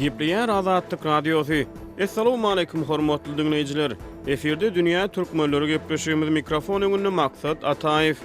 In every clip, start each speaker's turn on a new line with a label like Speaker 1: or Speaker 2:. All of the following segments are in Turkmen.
Speaker 1: Gepleýär Azatlyk Radiosy. Essalawmaleýkum hormatly diňleýjiler. Efirde dünýä türkmenleri gepleşigimiz mikrofon öňünde Maksat Ataýew.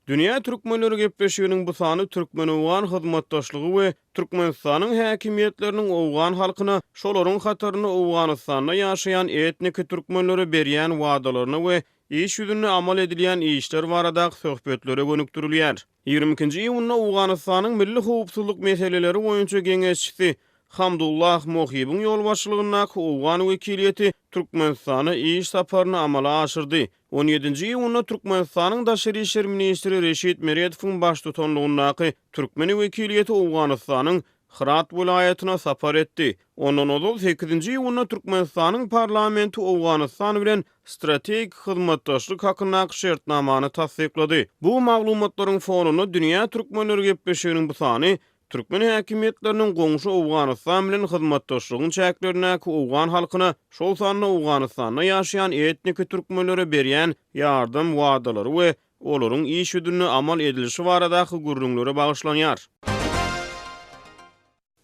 Speaker 1: Dünýä türkmenleri gepleşiginiň bu sany türkmen-owgan hyzmatdaşlygy we Türkmenistanyň häkimiýetleriniň owgan halkyna, şolaryň hatarynda Owganystanda ýaşaýan etniki türkmenlere berýän wadalaryna we iş ýüzünde amal edilýän işler baradaky söhbetlere gönükdirilýär. Ýigrimi ikinji iýunda Owganystanyň Milli howpsuzlyk meseleleri boýunça geňeşçisi Hamdullah Mohibiň ýolbaşçylygyndaky owgan wekiliýeti Türkmenistana iş saparyny amala aşyrdy On ýedinji iýunda Türkmenistanyň daşary işler ministri Reşit Meredowyň baştutanlygyndaky türkmen wekiliýeti Owganystanyň Hyrat welaýatyna sapar etdi. Ondan ozal, sekizinji iýunda Türkmenistanyň parlamenti Owganystan bilen strategik hyzmatdaşlyk hakyndaky şertnamany tassyklady. Bu maglumatlaryň fonunda dünýä türkmenleri gepleşiginiň bu sany Türkmen häkimiýetleriniň goňşy Owganystan bilen hyzmatdaşlygyň çäklerindäki owgan halkyna, şol sanda Owganystanda ýaşaýan etniki türkmenlere berýän ýardam wadalary we olaryň iş ýüzünde amal edilişi baradaky gürrüňlere bagyşlanýar.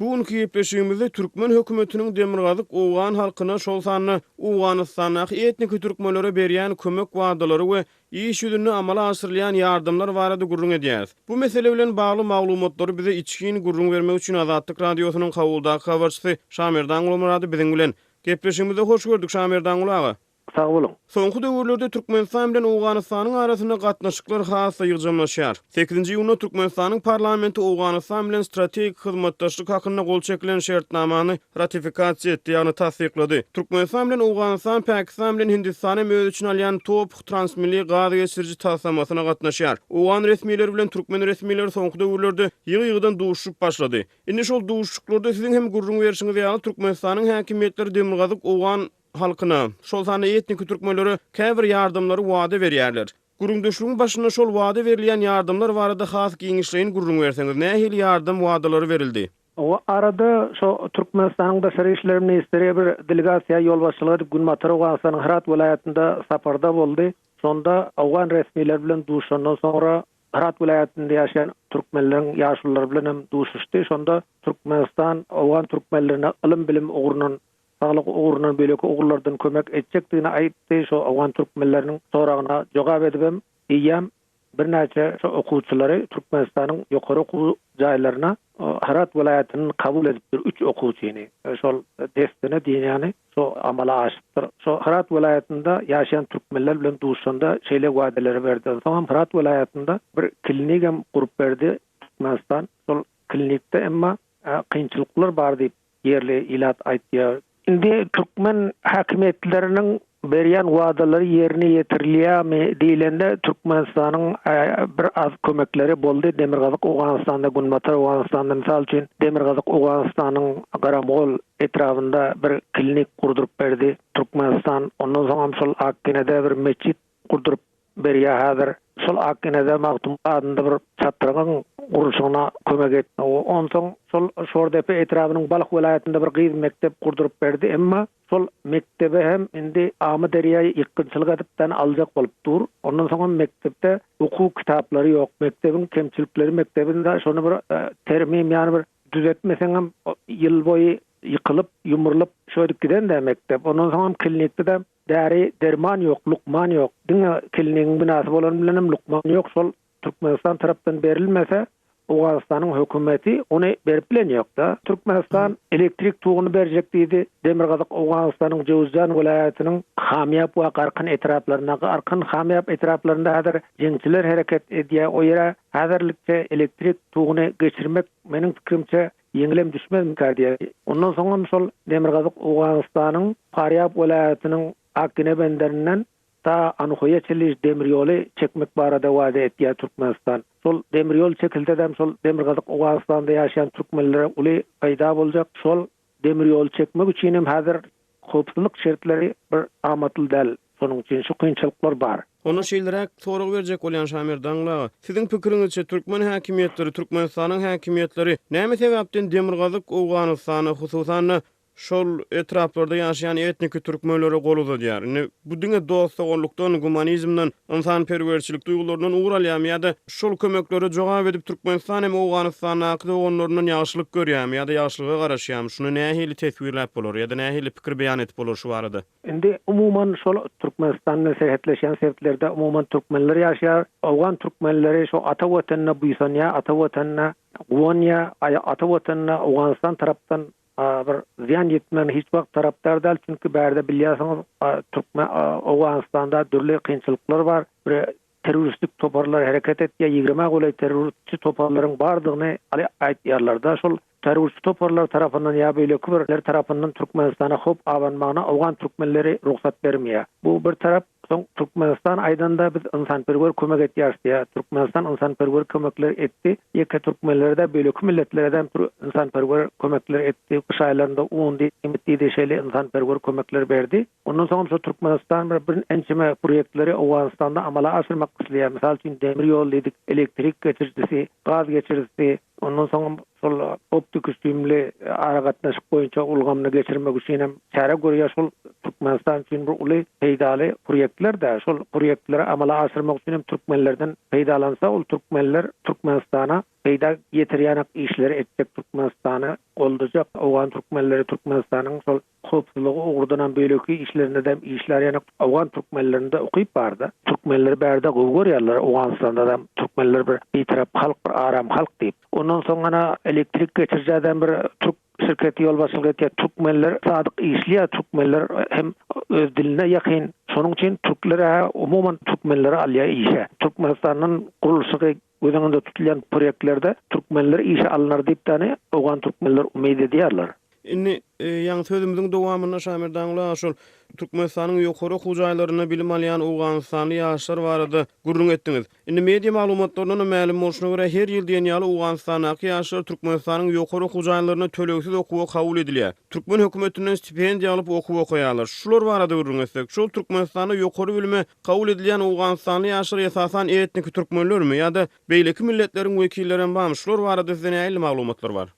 Speaker 1: Bu günki gepleşigimizde türkmen hökümetiniň demirgazyk owgan halkyna, şol sanda Owganystandaky etniki türkmenlere berýän kömek wadalary we iş ýüzünde amala aşyrylýan ýardamlar barada gürrüň edýäris. Bu mesele bilen bagly maglumatlary bize içgin gürrüň bermek üçin Azatlyk Radiosynyň Kabuldaky habarçysy Şamerdan Gulmyrady biziň bilen. Gepleşigimize hoş gördük, Şamerdanguly aga! Sag boluň!
Speaker 2: Soňky döwürlerde
Speaker 1: Türkmenistan bilen Owganystanyň arasynda gatnaşyklar has-da ýygjamlaşýar. Sekizinji iýunda Türkmenistanyň parlamenti Owganystan bilen strategik hyzmatdaşlyk hakynda gol çekilen şertnamany ratifikasiýa etdi, ýagny tassyklady. Türkmenistan bilen Owganystan Pakistan bilen Hindistan hem öz içine alýan TOPH transmilli gaz geçiriji taslamasyna gatnaşýar. Owgan resmileri bilen türkmen resmileri soňky döwürlerde ýygy-ýygydan duşuşyp başlady. Indi şol duşuşyklarda siziň hem gürrüň berşiňiz ýaly, Türkmenistanyň häkimiýetleri demirgazyk owgan halkyna, şol sanda etniki türkmenlere käbir ýardamlary wada berýärler. Gürrüňdeşligiň başynda şol wada berilýän ýardamlar barada has giňişleýin gürrüň berseňiz, nähili ýardam wadalary berildi? O arada
Speaker 2: şo Türkmenistanyň Daşary işler ministri bir delegasiýa ýolbaşçylyk edip Günbatar Owganystanyň Hyrat welaýatynda saparda boldy. Şonda owgan resmileri bilen duşandan soňra Hyrat welaýatynda ýaşaýan türkmenleriň ýaşululary bilen hem duşuşdy. Şonda Türkmenistan owgan türkmenlerine ylym-bilim ugrundan saglyk ugruna beýleki ugurlardan kömek etjekdigini aýtdy. Şu owgan türkmenleriniň soragyna jogap edibem, eýýäm birnäçe şu okuwçylary Türkmenistanyň ýokary okuw jaýlaryna Hyrat welaýatyndan kabul edipdir, üç okuwçyny. Şol dessine diýen ýaly şu amala aşypdyr. Şu Hyrat welaýatynda ýaşaýan türkmenler bilen duşanda şeýle wadalar berdi. Onsoňam Hyrat welaýatynda bir klinigam gurup berdi Türkmenistan. Şol klinikde emma kynçylyklar bar diýip, ýerli ilat aýtýar. Indi türkmen häkimiýetleriniň berýän wadalary ýerine ýetirilýärmi diýlende, Türkmenistanyň bir az kömekleri boldy. Demirgazyk Owganystanda, Günbatar Owganystanda, mysal üçin, Demirgazyk Owganystanyň Garamgol etrabynda bir klinik gurduryp berdi Türkmenistan. Ondan soňam şol Akgenede bir metjit gurduryp berýär häzir. Şol Akgenede Magtym adynda bir çatrygyň gurluşygyna kömek etdi. Onsoň şol Şordepe etrabynyň Balh welaýatynda bir gyz mekdep gurduryp berdi. Emma şol mekdebe hem indi Amyderýa ýykgynçylyk edip dan aljak bolup dur. Ondan soň hem mekdepde okuw kitaplary ýok. Mekdebiň kemçilikleri mekdebiň de şony bir termim ýany bir düzetmeseň hem ýyl boýy ýykylyp, ýumrulyp şöýdüp giden-dä mekdep. Ondan soň hem Kilnikde de Däri derman ýok lukman ýok diňe kilinigiň binasy bolany bilenem lukman ýok şol Türkmenistan tarapdan berilmese Owganystanyň hökümeti ony berip bilen ýokda Türkmenistan elektrik tugyny berjek diýdi Demirgazyk Owganystanyň Jöwüzjan welaýatynyň Hamýap we Garkyn etraplarynda Garkyn Hamýap etraplarynda häzir jeňçiler hereket edýär o ýere häzirlikçe elektrik tugyny geçirmek meniň pikirimçe Ýeňilem düşmezmikä diýýär. Ondan soňam şol demirgazyk Owganystanyň Farýab welaýatynyň Akgine benderinden ta Anuhoýa-Çiliž demir ýoly çekmek barada wada etýär Türkmenistan. Şol demir ýol çekilsedem şol demirgazyk Owganystanda ýaşaýan türkmenlere uly peýda boljak. Şol demir ýoly çekmek üçinem häzir Howpsuzlyk şertleri bir amatly däl, şonuň üçin şu kynçylyklar bar. Onda şeýleräk
Speaker 1: sorag berjek bolýan Şamir Dangla, Siziň pikiriňizçe türkmen häkimiýetleri, Türkmenistanyň häkimiýetleri näme sebäpden Demirgazyk Owganystana, hususan-da, şol etraplarda ýaşaýan etniki türkmenlere gol uzadýar? Indi Bu diňe dost-doganlykdan, gumanizmden, ynsanperwerçilik duýgularyndan ugur alýamy ýa-da şol kömeklere jogap edip Türkmenistan hem Owganystandaky doganlaryndan ýagşylyk görýämi ýa-da ýagşylyga garaşýamy, şuny nähili teswirläp bolar ýa-da nähili pikir beýan edip bolar şu barada? Indi umuman
Speaker 2: şol Türkmenistan bilen serhetleşýän sebtlerde umuman türkmenler ýaşaýar. Owgan türkmenleri şu ata Watanyna buýsanýar, ata Watanyna guwanýar, ata Watanyna Owganystan tarapdan bir zyýan ýetmegine hiç wagt tarapdar däl, çünki bärde bilýärsiňiz, türkmen Owganystanda dürli kynçylyklar bar, bir terroristik toparlar hereket etýär, ýigrime golaý terroristçi toparlaryň bardygyny aýdýarlar-da, şol terroristçi toparlar tarapyndan ýa beýleki birler tarapyndan Türkmenistana howp abanmagyna owgan türkmenleri rugsat bermeýär. Bu bir tarap. Soň Türkmenistan aýdanda biz ynsanperwer kömek etýäris diýýär. Türkmenistan ynsanperwer kömekler etdi. Ýeke türkmenlere-de beýleki milletlere-de ynsanperwer kömekler etdi. Gyş aýlarynda undy, iýmit diýdi şeýle ynsanperwer kömekler berdi. Ondan soňam şu Türkmenistan bir ençeme proýektleri Owganystanda amala aşyrmak isleýär. Mysal üçin demir ýol diýdik, elektrik geçirijisi, gaz geçirijisi, ondan soňam şol optikosimli aragatnaşyk boýunça ulgamyny geçirmek üçin hem çäre görýär, şol Türkmenistan üçin bir uly peýdaly proýektler-de, şol proýektleri amala aşyrmak üçin hem türkmenlerden peýdalansa, ol türkmenler Türkmenistana peýda ýetirýänak işleri etjek, Türkmenistany goldajak, owgan türkmenleri Türkmenistanyň şol Howpsuzlygy ugurdanam beýleki işlerindedem işlär ýaňak Owgan türkmenlerinde ukyp barda türkmenleri bärde gowy görýärler Owganystandaam türkmenler bir bitarap halk bir aram halk diýip ondan soň ana elektrik geçirijädem bir türk şirketi ýolbaşçylyk etýär türkmenler sadyk işlýär türkmenler hem öz diline ýakyn şonuň üçin türkler-ä umuman türkmenleri alýar işe Türkmenistandan gurluşygy Göz öňünde tutulýan proýektlerde türkmenler işe alnar diýip däne owgan türkmenler umyt edýärler. Indi,
Speaker 1: ýaňy sözümiziň dowamynda Şamil Daňla şol Türkmenistanyň ýokary okuw jaýlarynda bilim alýan owganystanly ýaşlar barada gürrüň etdiňiz. Indi media maglumatlaryndan-da mälim bolşuna görä, her ýyl diýen ýaly Owganystandaky ýaşlar Türkmenistanyň ýokary okuw jaýlarynda tölegsiz okuwa kabul edilýär. Türkmen hökümetinden stipendiýa alyp okuw okaýarlar. Şular barada gürrüň etsek, şol Türkmenistanda ýokary bilime Kabul edilýän owganystanly ýaşlar esasan etniki türkmenlermi ýa-da beýleki milletleriň wekillerem bamy şular barada sizde nähili maglumatlar bar?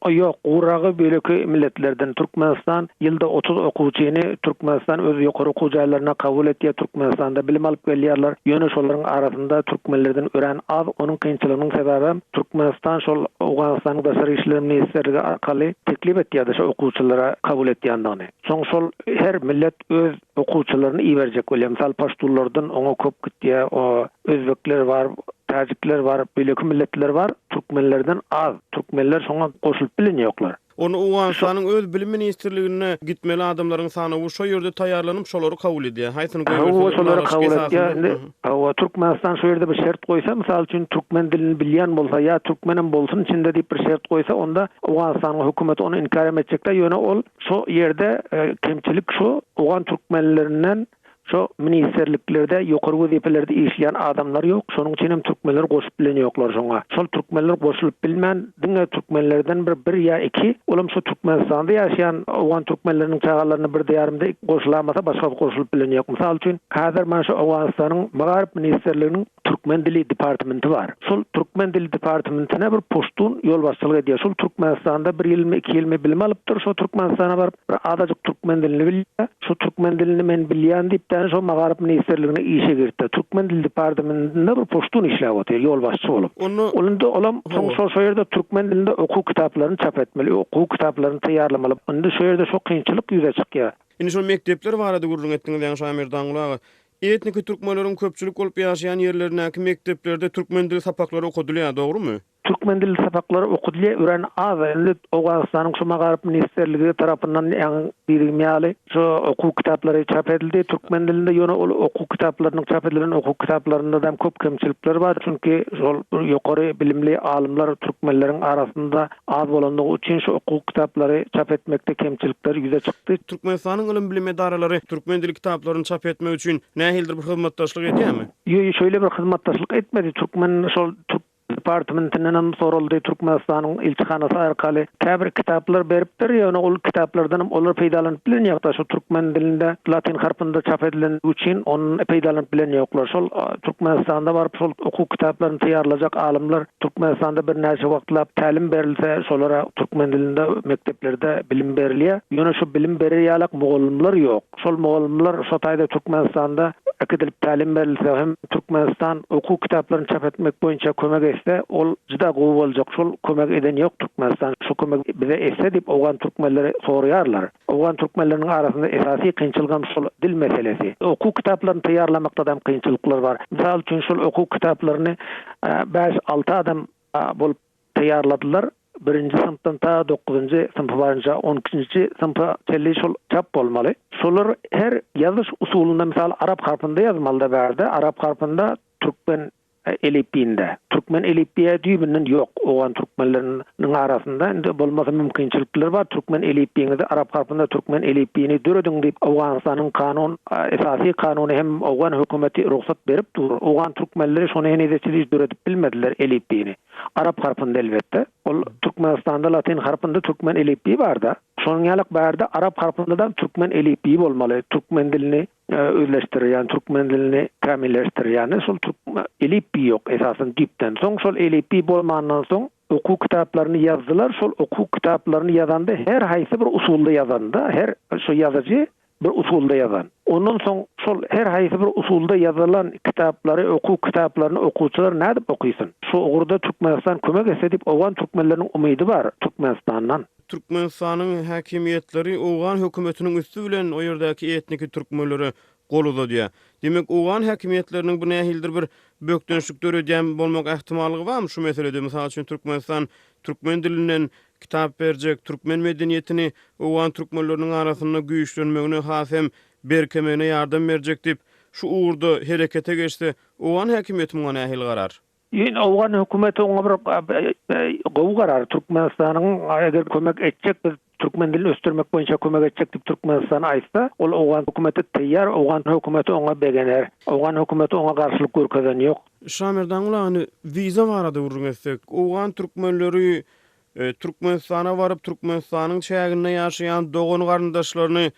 Speaker 1: Ýok, guragy
Speaker 2: beýleki milletlerden. Türkmenistan ýylda otuz okuwçyny Türkmenistan öz ýokary okuw jaýlaryna kabul etýär, Türkmenistanda bilim alyp gelýärler. Ýöne şolaryň arasynda türkmenlerden örän az, onuň kynçylygynyň sebäbem Türkmenistan şol Owganystanyň daşary işler ministrligi arkaly teklip etýärdi şu okuwçylary kabul etýändigini. Soň şol her millet öz Okuwçylaryny iberjek bolýa mysal paştunlardan oňa kop gitýä o özbekler bar täjikler bar beýleki milletler bar türkmenlerden az türkmenler şoňa goşulyp bilen ýoklar. Onda owganystanyň
Speaker 1: öz bilim ministrliginde gitmeli adamlaryň sanawy şo ýerde taýýarlanyp şolary kabul edýä haýsyny goýberseň şolary kabul
Speaker 2: etýä indi hawa türkmenistan şo ýerde bir şert goýsa mysal üçin türkmen dilini bilýän bolsa ýa türkmenem bolsun içinde diýip bir şert goýsa onda owganystanyň hökümeti ony inkärem etjekdä ýöne ol Şu ýerde kemçilik şu, owgan türkmenlerinden şu ministrliklerde, ýokary wezipelerde işleýän adamlar ýok, şonuň üçin hem türkmenleri goşup bilen ýoklar şoňa. Şol türkmenler goşulyp bilmän, diňe türkmenlerden bir, bir ýa iki, ol hem şu Türkmenistanda ýaşaýan owgan türkmenleriniň çagalaryna birde ýarymda goşulamasa başgasy goşulyp bilen ýok. Mysal üçin, häzir men şu Owganystanyň Magaryp ministrliginiň Türkmen dili departmenti bar. Şol türkmen dili departmentine bir puştun ýolbaşçylyk edýär. Şol Türkmenistanda bir ýylmy, iki ýylmy bilim alypdyr. Şo Türkmenistana baryp, bir azajyk türkmen dilini bilýär. Şo türkmen dilini men bilýän diýipdäni şo Magaryp ministrligine işe giripdir. Türkmen dili departamentinde bir puştun işläp otyr, ýolbaşçy bolup. Onda. Ol indi olam soň şo şo ýerde türkmen dilinde okuw kitaplaryny çap etmeli, okuw kitaplaryny taýýarlamaly. Indi şo ýerde şo kynçylyk ýüze çykýar. Indi şo mekdepler
Speaker 1: barada gürrüň etdiňiz, ýagny Şamirdan Gulaga. Etniki türkmenleriň köpçülik bolup ýaşaýan ýerlerindäki mekdeplerde türkmen dil sapaklary okadylýar, dogrumy? Türkmen dil sapaklary
Speaker 2: okadylýar, örän az, indi Owganystanyň şu Magaryp ministrligi tarapyndan äň diýdigim ýaly şu okuw kitaplary çap edildi türkmen dilinde, ýöne ol okuw kitaplarynyň çap edilen okuw kitaplarynda-dam köp kemçilikler bar, çünki şol ýokary bilimli alymlar türkmenleriň arasynda az bolandygy üçin şu okuw kitaplary çap etmekde kemçilikler ýüze çykdy. Türkmenistanyň ylym-bilim
Speaker 1: edaralary türkmen dili kitaplaryny çap etmek üçin nähilidir bir
Speaker 2: hyzmatdaşlyk
Speaker 1: edýärmi? Ýo-ýo
Speaker 2: şeýle bir
Speaker 1: hyzmatdaşlyk
Speaker 2: etmedi.
Speaker 1: Türkmen
Speaker 2: şol
Speaker 1: türk
Speaker 2: departmentinden hem soraldy, Türkmenistanyň ilçihanasy arkaly käbir kitaplar beripdir, ýöne ol kitaplardan hem olar peýdalanyp bilen ýok-da, şu türkmen dilinde latyn harpynda çap edilendigi üçin ondan peýdalanyp bilen ýoklar. Şol Türkmenistanda baryp şol okuw kitaplaryny taýýarlajak alymlar Türkmenistanda birnäçe wagtlap tälim berilse, şolara türkmen dilinde mekdeplerde bilim berilýär. Ýöne şu bilim berer ýalak mugallymlar ýok. Şol mugallymlar şo taýda Türkmenistanda äkidilip tälim berilse hem Türkmenistan okuw kitaplaryny çap etmek boýunça kömek etse, ol juda gowy boljak. Şol kömegi eden ýok Türkmenistan. Şu kömegi bize etse diýip owgan türkmenleri soraýarlar. Owgan türkmenleriniň arasynda esasy kynçylygam şol dil meselesi. Okuw kitaplaryny taýýarlamakdadam kynçylyklar bar. Mysal üçin şol okuw kitaplaryny bäş, alty adam bolup taýýarladylar. Birinji synpdan ta dokuzynjy synpa barynça, on ikinji synpa çenli şol çap bolmaly. Şolar her ýazyş usulynda, mysal, arap harpynda ýazmalyda bärde, arap harpynda türkmen Elipbiýinde. Türkmen elipbiýä düýbünden ýok. Owgan türkmenleriniň arasynda indi bolmasa mümkinçilikler bar. Türkmen elipbiýiňizi arap harpynda türkmen elipbiýini dörediň diýip Owganystanyň kanun, esasy kanuny hem owgan hökümeti rugsat berip dur. Owgan türkmenleri şony henize-çe hiç döredip bilmediler elipbiýini. Arap harpynda elbetde. Ol Türkmenistanda latyn harpynda türkmen elipbiýi bar-da. Şonuň ýaly-ak bärde arap harpynda-da türkmen elipbiýi bolmaly. Türkmen dilini özleşdirýän türkmen dilini kämilleşdirýän şol elipbiý ýok esasan düýpden soň şol elipbiý bolmandan soň okuw kitaplaryny ýazdylar şol okuw kitaplaryny ýazanda her haýsy bir usulda ýazanda her şu ýazyjy bir usulda ýazan ondan soň şol her haýsy bir usulda ýazylan kitaplary okuw kitaplaryny okuwçylar nädip okysyn şu ugurda türkmenistan kömek etse diýip owgan türkmenleriniň umydy bar türkmenistandan. Türkmenistanyň
Speaker 1: häkimiýetleri owgan hökümetiniň üsti bilen o ýerdäki etniki türkmenlere gol uzadýar. Diýmek, owgan häkimiýetleriniň bu nähilidir bir bökdençlik döredýän bolmak ähtimallygy barmy şu meselede? Mysal üçin, Türkmenistan türkmen dilinden kitap berjek, türkmen medeniýetini owgan türkmenleriniň arasynda güýçlenmegine has hem berkemegine ýardam berjek diýip, şu ugurda herekete geçse, owgan häkimiýeti muňa nähili garar? Ýöne owgan
Speaker 2: hökümeti oňa bir gowy garar Türkmenistanyň eger kömek etjek biz türkmen dilini ösdürmek boýunça kömek etjek diýip Türkmenistan aýtsa ol owgan hökümeti taýýar owgan hökümeti oňa begener owgan hökümeti oňa garşylyk görkezen ýok. Şamerdan uly agany
Speaker 1: wiza barada gürrüň etsek owgan türkmenleri Türkmenistana baryp Türkmenistanyň çäginde ýaşaýan dogan garyndaşlaryny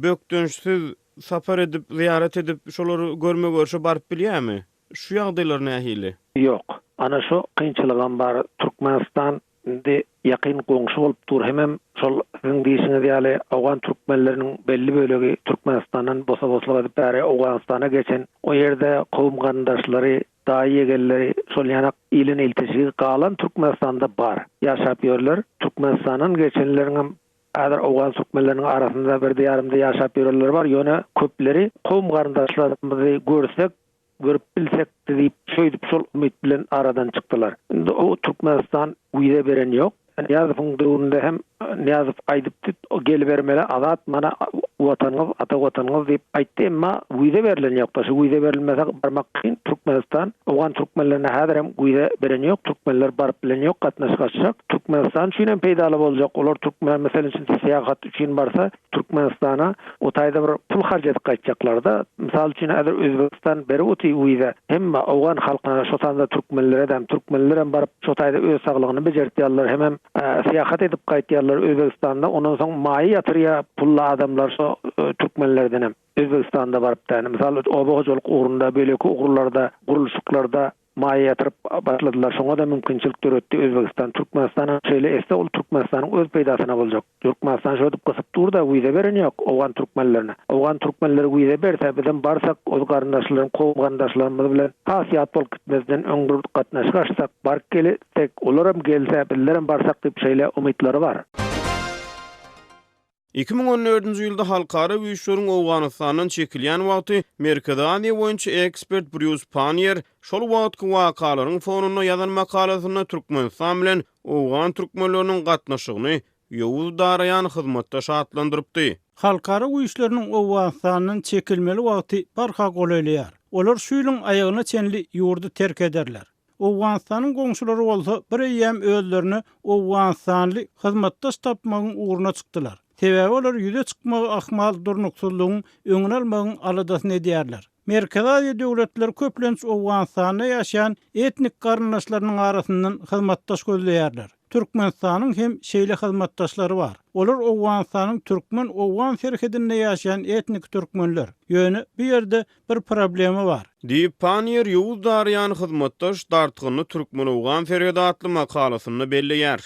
Speaker 1: bökdençsiz sapar edip zyýarat edip şolary görme görşe baryp bilýärmi? Şu ýagdaýlar nähili? Ýok. Ana
Speaker 2: şu kynçylygam bar. Türkmenistan indi ýakyn goňşy bolup dur hemem şol siziň diýişiňiz ýaly owgan türkmenleriniň belli bölegi Türkmenistandan bosa-boslyk edip bäri Owganystana geçen. O ýerde kowum garyndaşlary, daýy-ýegenleri şol ýanak iliň iltişigi galan Türkmenistanda bar. Ýaşap ýörler. Türkmenistandan geçenleriňem häzir owgan türkmenleriniň arasynda birde-ýarymda ýaşap ýörenleri bar, ýöne köpleri kowum garyndaşlarymyzy görsek, Görüp bilsek diýip şeýdip şol umyt bilen aradan çykdylar. Indi o Türkmenistan wiza beren ýok. Nyýazowyň döwründe hem Nyýazow aýdypdy gelibermeli Azat mana watanyňyz ata watanyňyz diýip aýtdy emma wiza berilen ýokda şu wiza berilmese barmak kyn Türkmenistan owgan Türkmenlerine häzir hem wiza beren ýok Türkmenler baryp bilen ýok gatnaşyk açjak Türkmenistan üçin hem peýdaly boljak olar Türkmen meselem üçin syýahat üçin barsa Türkmenistana o taýda bir pul harç edip gaýtjaklarda, mysal üçin häzir Özbegistan berip otyr wiza, hemme owgan halkyna şo sanda türkmenleredem, türkmenlerem baryp şo taýda öz saglygyny bejertýärler hemem syýahat edip gaýtýarlar Özbegistanda ondan soň maýa ýatyrýa pully adamlar şo türkmenlerdenem Özbegistanda baryp däne mysal oba hojalyk ugrunda beýleki ugurlarda gurluşyklarda Maýa ýatyryp başladylar şoňada mümkinçilik döretdi Özbegistan Türkmenistana şeýle etse ol Türkmenistanyň öz peýdasyna boljak Ýurkmanistan şodip gysyp durda wiza beren ýok Owgan Türkmenlerine Owgan Türkmenleri wiza berse bizem barsak oz garyndaşlarym kowum garyndaşlarymyz bilen has ýat bolup gitmezden öň bir gatnaşyk açsak baryp gelsek olaram gelse bizlerem barsak dip şeýle umytlary bar. Iki
Speaker 1: müň on dördünji ýylda halkara güýçleriň Owganystandan çekilýän wagty Merkezi Aziýa boýunça ekspert Brýus Panniýer şol wagtky wakalaryň fonunda ýazan makalasynda Türkmenistan bilen owgan türkmenleriniň gatnaşygyny ýowuz daraýan hyzmatdaş atlandyrypdy. Halkara
Speaker 3: güýçleriniň Owganystandan çekilmeli wagty barha golaýlaýar. Olar şu ýylyň aýagyna çenli ýurdy terk ederler. Owganystanyň goňşulary bolsa bir eýýäm özlerine owganystanly hyzmatdaş tapmagyň ugruna çykdylar. Sebäbi olar ýüze çykmagy ahmal durnuksyzlygyň öňüni almagyň aladasyny edýärler. Merkezi Aziýa döwletleri köplenç Owganystanda ýaşaýan etnik garyndaşlarynyň arasyndan hyzmatdaş gözleýärler. Türkmenistanyň hem şeýle hyzmatdaşlary bar. Olar Owganystanyň türkmen-owgan serhedinde ýaşaýan etnik türkmenler. Ýöne bu ýerde Bir problema bar. Diýip, Panniýer
Speaker 1: Ýowuz Darýany hyzmatdaş dartgynly Türkmen-owgan serhedi atly makalasynda belleýär.